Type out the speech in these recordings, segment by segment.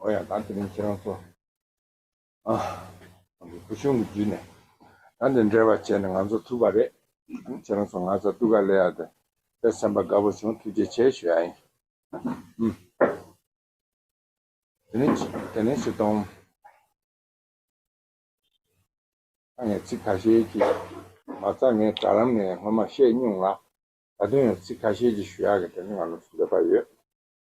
ཨོ་ཡང་ད་དེ་རིང་ཁྱེད་རང་ཚོ་བུ་ཆུང་གི་རྒྱུད་ནས་ད་འདི་འདྲའི་བ་བྱས་ནས་ང་ཚོ་ཐུག་པ་རེད། ཁྱེད་རང་ཚོ་ང་ཚ་གཏུག་ག་ལེ་ཡ་དེ་པེ་སེམས་པ་དགའ་བོ་བྱུང་ཐུགས་རྗེ་ཆེ་ཞུ་ཡ་ཡིན། དེ་ནས་དེ་ནས་ཕྱི་གཏོང། ད་ངས་ཚིག་ཁ་ཤས་ཀྱིས་མ་རྩ་ངས་དྲ་ལམ་ནས་སྔོན་མ་བཤད་སྙུང་ལ་ད་དུང་ཡང་ཚིག་ཁ་ཤས་ཀྱིས་ཞུ་ཡ་གི་དེ་ནས་ང་ལ་ཚོ་འདོད་པ་ཡོད།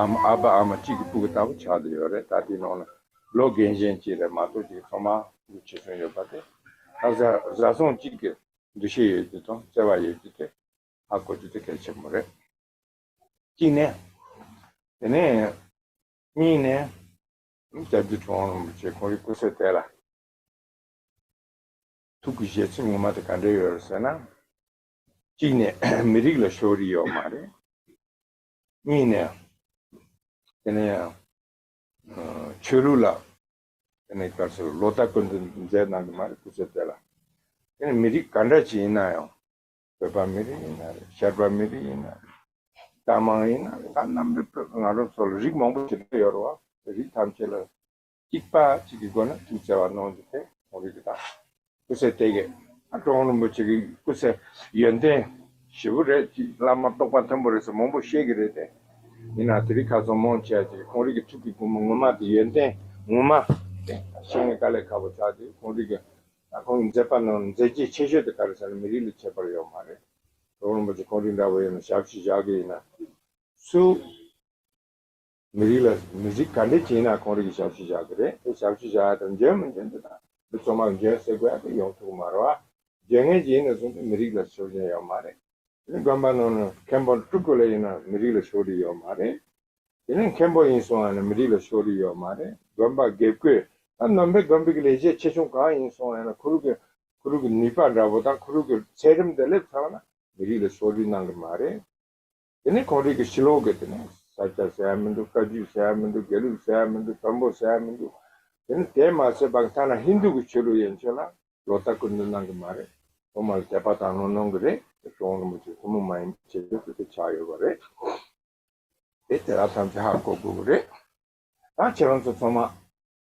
ཨ་མ་ཨ་ཕ་ཨ་མ་གཅིག་གི་སྤུ་གུ་ལྟ་བུ་ཆགས་འདི་ཡོད་རེད་ད་དེའི་ནང་ལ་ལོ་རྒན་གཞན་གཅིག་རེད་མ་གཏོགས་གཅིག་ཐོག་མ་གུ་ཆེ་ཆུང་ཡོད་པ་དེ་ཨ་བཟའ་བཟའ་ཚང་གཅིག་གི་འདུ་ཤེས་ཡོད་རྒྱུ་དང་བརྩེ་བ་ཡོད་རྒྱུ་དེ་ཧ་གོ་རྒྱུ་དེ་གལ་ཆེན་པོ་རེད། གཅིག་ནས། དེ་ནས། གཉིས་ནས། རྒྱ་རྒྱུད་གྲོང་རོང་རིན་པོ་ཆེ་ཁོང་གི་སྐུ་སྲས་དེ་ལ། ཐུགས་ཀྱི་བཞེད་ཚིག་ངོ་མ་དེ་ག་འདྲས་ཡོད་རེད་ཟེར་ན། གཅིག་ནས་མི་རིགས་ལ་ཕྱོགས་རིས་ཡོད་མ་རེད། གཉིས་ནས། དེ་ནས་ཆོས་ལུགས་ལ་དེ་ནས་སྐབས་སུ་ལོ་ཟླ་བཀོད་འཛེགས་གནང་གི་མ་རེད་སྐུ་ཚེ་སྟོད་ལ། དེ་ནས་མི་རིགས་ག་འདྲ་ཞིག་ཡིན་ན་ཡང། བོད་པ་མི་རིགས་ཡིན་ན་རེད་ཤར་པ་མི་རིགས་ཡིན་ན་རེད། རྟ་མང་ཡིན་ན་རེད་ད་རྣམ་པའི་བོད་པ་ང་རང་ཚོ་ལ་རིགས་མང་པོ་ཞིག་ཡོད་རེད་བ། རིགས་ཐམས་ཅད་ལ། གཅིག་པ་གཅིག་གི་སྒོ་ན་གཅིག་བཙལ་བ་གནང་རྒྱུ་དེ་གང་རིགས་དང། སྐུ་ཚེ་དེ་གའི་ཨ་ཀྲོང་རིན་པོ་ཆེ་གི་སྐུ་ཚེ་ཡོན་ཏན་ཞེ་བོ་རེད་ཅེས་བླ་མ་རྟོགས་པ་མཐོན་པོ་རེད་ཟེར་མང་པོ་བཤད་གི་རེད་དེ། ཡིན་ནའང་དེ་རིགས་ཁ་ཚོན་མང་ཆེ་བ་ཅིག་གང་རིགས་ཀྱི་ཐུགས་ཀྱི་སྒོ་མོ་ངོ་མ་དེ་ཡོན་ཏན་ངོ་མ་དེ་ཤེས་ངེས་དཀའ་ལས་ཁག་པོ་ཆགས་དེ་གང་རིགས་ཀྱི་ཁོང་གི་མཛད་པ་རྣམས་མཛད་རྗེས་ཆེ་ཤོས་དེ་ག་རེ་ས་ནས་མི་རིགས་ལ་ཁྱད་པར་ཡོད་མ་རེད། ཀྲོང་རིན་པོ་ཆེ་གང་རིགས་འདྲ་པོ་ཡིན་ན་ཞབས་ཕྱི་བཞག་གི་ཡིན་ན་སུ། མི་རིགས་ལ་མི་གཟིགས་ག་འདྲས་བྱས་ན་ཁོང་རིགས་ཞབས་ཞུ་བཞག་གི་རེད་དེ་ཞབས་ཞུ་བཞག་ཡ་དང་འཇོན་མི་འཇོན་དེ་དང་མི་ཚོ་མ་འཇོན་ཟེར་དགོས་ཡ་དེ་ཡོང་ཐུག་མ་རོ་ཨ། འཇོན་ངན་ཅིག་ཡིན་ནས་བཟུང་སྟེ་མི་རིགས་ལ་ཞོར་འཇོན་ཡོད་མ་རེད། དེ་ནས་དགོན་པ་ནང་ནས་མཁན་པོ་དཀྲུག་དགོས་ལ་ཡིན་ན་མི་རིགས་ལ་ཞོར་རིས་ཡོད་མ་རེད། དེ་ནས་མཁན་པོ་ཡིན་སོང་ཡ་ན་མི་རིགས་ལ་ཞོར་རིས་ཡོད་མ་རེད་དགོན་པ་དགེ་བསྐོས་ད་ནོམ་པའི་དགོན་པའི་གི་ལས་བྱེད་ཆེ་ཆུང་གང་ཡིན་སོང་ཡ་ན་ཁུ་རུག་གི་ཁུ་རུག་གི་ནུས་པ་འདྲ་པོ་དང་ཁུ་རུག་གི་ཚད་རིམ་དེ་སླེབས་ཚར་བ་ན་མི་རིགས་ལ་ཞོར་རིས་གནང་གི་མ་རེད། དེ་ནི་གངས་རི་གི་ཕྱི་ལོག་གི་དེ་ནི་ས་སྐྱ་ཟེར་ཡ་མི་འདུག་བཀའ་བརྒྱུད་ཟེར་ཡ་མི་འདུག་དགེ་ལུགས་ཟེར་ཡ་མི་འདུག་བོན་པོ་ཟེར་ཡ་མི་འདུག་དེ་ནི་དེ་མ་ཟད་པ་ཐ་ན་ཧིན་རྡུ་གི་ཆོས་ལུགས་ཡན་ཆོད་ལ། ལོ་ལྟ་སྐུལ་འདོན་གནང་གི་མ་རེད། ཐོག་མར་དད་པ་དང་ལོ་གནོང་གི་རེད། དེ་ཁྱོད་རང་རིན་པོ་ཆེ་ཐུན་མོང་མ་ཡིན་པའི་ཆེད་དུ་དེ་ལྟར་ཆགས་ཡོད་པ་རེད། དེ་དེ་དག་ཐམས་ཅད་ཧ་གོ་དགོས་པ་རེད། ད་ཁྱེད་རང་ཚོ་ཚང་མ།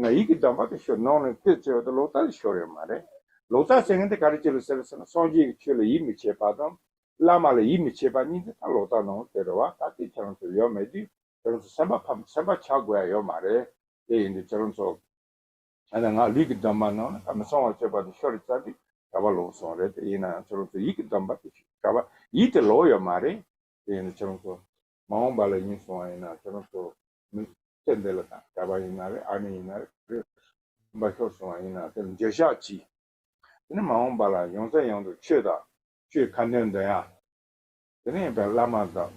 ང་ཡིག་གི་འདྲ་འབག་དེ་ཤོར་ནོག་ནས་བལྟས་ཚེ་འོ་ད་ལོག་ལྟ་ལས་ཤོར་ཡོད་མ་རེད། ལོག་ལྟ་བྱེད་མཁན་དེ་ག་རེ་བྱེད་ལོ་ཟེར་ཟེར་ན་སངས་རྒྱས་ཀྱི་ཆོས་ལ་ཡིད་མི་ཆེས་པ་དང། བླ་མ་ལ་ཡིད་མི་ཆེས་པ་གཉིས་འདི་ལྟར་ལོག་ལྟ་ནོག་དེ་རེད་བ་ད་ལྟའི་ཁྱེད་རང་ཚོ་ཡོད་མེད་དུས་ཁྱེད་རང་ཚོ་སེམས་པ་ཕམ་སེམས་པ་ཆགས་དགོས་ཡ་ཡོད་མ་རེད། དེ་ཡིན་དུས་ཁྱེད་རང་ཚོ། ད་ནི་ང་ལུས་ཀྱི་འདྲ་འབག་ནང་ན་ཁ་མི་ཚང་བ་བྱས་པ་དེ་ཤོར་ཙང་དེ་ག་བ་ལོག་སོང་རེད་དེ་ཡིན་ནའང་ཁྱེད་རང་ཚོ་ཡིག་གི་འདྲ་འབག་དེ་ཤོར་ག་བ་ཡིག་དེ་ལོག་ཡོད་མ་རེད། དེ་ཡིན་དུས་ཁྱེད་རང་ཚོ། མ་འོངས་པ་ལ་ཡིན་སོང་བ་ཡིན་ན་ཁྱོད་རང་ཚོ་མི་ཁྱེད་འདི་ལ་དང་ག་པ་ཡིན་ན་རེད་ཨ་ནེ་ཡིན་ན་རེད་ག་རེ་རིན་པ་ཤོར་སོང་བ་ཡིན་ན་དེ་ལ་འགྱོད་བཤགས་གྱིས་དེ་ནས་མ་འོངས་པ་ལ་ཡོང་ས་ཡོང་དུ་ཆོས་དང་ཆོས་ཁ་འདོན་འདོན་ཡག་དེ་ནས་ཡིན་པའི་བླ་མ་དང་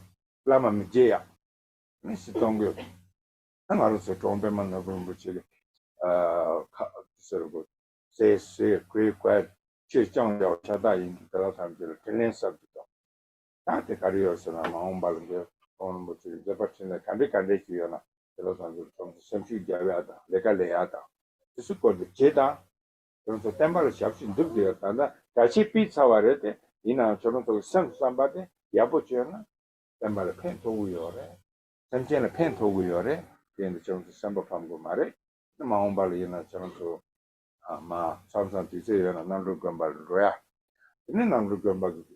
བླ་མ་མི་འགྱེད་ཡག་དེ་ནས་ཤི་གཏོང་གི་ད་ང་རང་ཚོ་གྲོང་པད་མ་ནོར་བུ་རིན་པོ་ཆེ་ལས་ཁ་ཟེར་དགོས་ཟས་ཟས་གོས་བསྐོལ་ཆོས་སྤྱང་བྱ་བ་ཤ་སྟག་ཡིན་གྱི་དེ་ལ་ཐམས་ཅད་ལ་དྲིན་ལན་གསབ་རྒྱུ་དང། ཐང་དེ་ག་རེ་ཡོད་ཟེར་ན་མ་འོངས་པ་ལ་འདིར་ཁོང་རིན་པོ་ཆེའི་མཛད་པ་འཕྲིན་ལས་ག་འདྲའི་ག་འདྲའི་ཞིག་ཡོད་ན་དེ་ལ་བཟང་ཆོག་ཁྱོད་ཚོ་སེམས་ཤུགས་རྒྱག་ཡག་དང་ལས་ཀ་ལས་ཡག་དང་དེ་ཚོའི་སྐོར་དུ་བྱེད་དང། ཁྱོད་ཚོ་བསྟན་པ་ལ་ཞབས་ཕྱི་འདེབས་དགོས་ཡ་ད་ལྟ་དྲ་ཕྱིས་སྤིས་ཚར་བ་རེད་དེ་ཡིན་ནའང་ཁྱོད་རང་ཚོ་གི་སེམས་སུ་བསམ་པ་དེ་ཡག་པོ་བཅོས་ན། བསྟན་པ་ལ་ཕན་ཐོགས་གི་ཡོད་རེད། སེམས་ཅན་ལ་ཕན་ཐོགས་གི་ཡོད་རེད་དེ་ཡིན་ན་ཁྱོད་རང་ཚོ་སེམས་པ་ཕམ་དགོས་མ་རེད་དེ་མ་འོངས་པ་ལ་ཡིན་ན་ཁྱོད་རང་ཚོ། མ་འཚམས་སམ་དུས་ཚོད་ཡོད་ན་གནམ་གྲུ་དགོན་པར་འགྲོ་ཡ། དེ་ནས་གནམ་གྲུ་དགོན་པ་གི།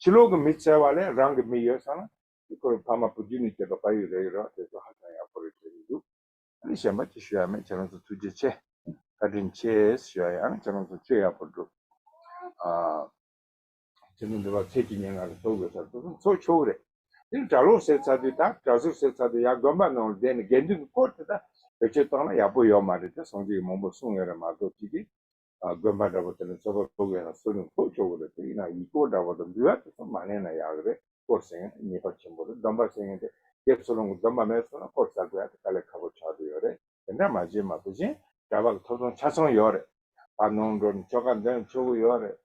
ཕྱི་ལོག་གི་མི་བཙལ་བ་ལས་རང་གི་མི་ཡོད་ས་ན་དེ་ཁོའི་ཕ་མ་བུ་རྒྱུད་ནས་སྐྱེས་པ་བལ་ཡུལ་རྭ་ཡུལ་རོགས་དེ་ཚོ་ཧ་ཅང་ཡག་པོ་རེད་བྲིས་ཀྱི་འདུག་ཨ་ནི་གཞན་པ་ཅི་ཞུ་ཡག་མེད་ཁྱེད་རང་ཚོ་ཐུགས་རྗེ་ཆེ་བཀའ་དྲིན་ཆེ་ཞུ་ཡག་ཡང་ཁྱེད་རང་ཚོ་ཆོས་ཡག་པོ་སྒྲུབ་ཨ། ཁྱེད་ཚོ་འདི་བར་ཚེས་ཀྱི་སྙན་ངག་རེ་ཐོ་དགོས་ཚར་དུ་སོང་ཚོ་ཆོག་གི་རེད་འདིར་གྲྭ་ལོག་ཟེར་ཚར་དུས་ད་གྲྭ་ཟུར་ཟེར་ཚར་དུས་ཡག་དགོན་པ་ནང་ལ་བསྡད་ནས་དགེ་འདུན་གྱི་སྐོར་དེ་དག་བེད་སྤྱོད་བཏང་ན་ཡག་པོ་ཡོད་མ་རེད་དེ་སོང་རྗེས་ཀྱི་མང་པོ་གསུང་ཡོད་རེད་མ་གཏོགས་ཅི་གི་དགོན་པ་འདྲ་པོ་དེ་ལ་ཚོད་དཔག་ལོག་ཡོད་ན་གསོ་རིན་ཕོག་ཆོག་གི་རེད་དེ་ཡིན་ན་ཡིག་སྐོར་འདྲ་པོ་དང་འབུལ་བ་དེ་ཚོ་མ་གླེང་ན་ཡག་གི་རེད་སྐོར་ཟེར་མཁན་ངེས་པར་ཆེན་པོ་རེད་སྡོམ་པ་ཟེར་མཁན་དེ་རྒྱའི་ཚུར་ལོངས་ཀྱི་སྡོམ་པ་མེད་སོང་ན་སྐོར་ཟ་དགོས་ཡག་དེ་དཀའ་ལས་ཁག་པོ་ཆགས་འདུག་ཡོད་རེད། དེ་འདྲ་མ་བྱེད་མ་བུ་ཆེན་འདྲ་པ་གི་ཐོབ་ཐང་ཆ་ཚང་ཡོད་རེད། བར་སྣང་འགྲོ་ནས་ཆོ་ག་འདོན་ཆོག་གི་ཡོད་རེད།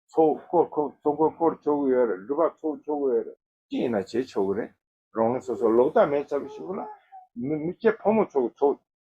ཚོགས་སྐོར་ཁོག་ཚོགས་འཁོར་སྐོར་ཆོག་གི་ཡོད་རེད་འགྲུལ་པ་ཚོགས་ཆོག་གི་ཡོད་རེད་ཅི་ཡིན་ན་བྱེད་ཆོག་གི་རེད། རང་རང་སོ་སོ་ལོག་ལྟ་མེད་ཚར་བུ་ཞིག་ཡོད་ན། མི་ཁྱེད་ཕོ་མོ་ཚོགས་ཀྱི་ཚོགས།